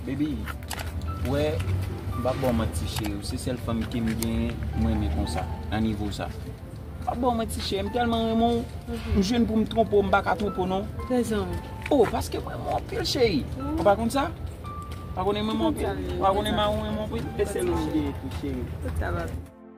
Baby ou wè m pap baw manti cheri ou se sèl fanm kem genyen m renmen konsa nan nivo sa m pap baw manti cheri m tèlman renmen w m jwenn poum twonpe w m paka twonpe w non oh paske m renmen w anpil cheri ou pa konn sa ou pa konnen m renmen w anpil ou pa konnen m renmen w anpil e sèl ou m genyen tou cheri.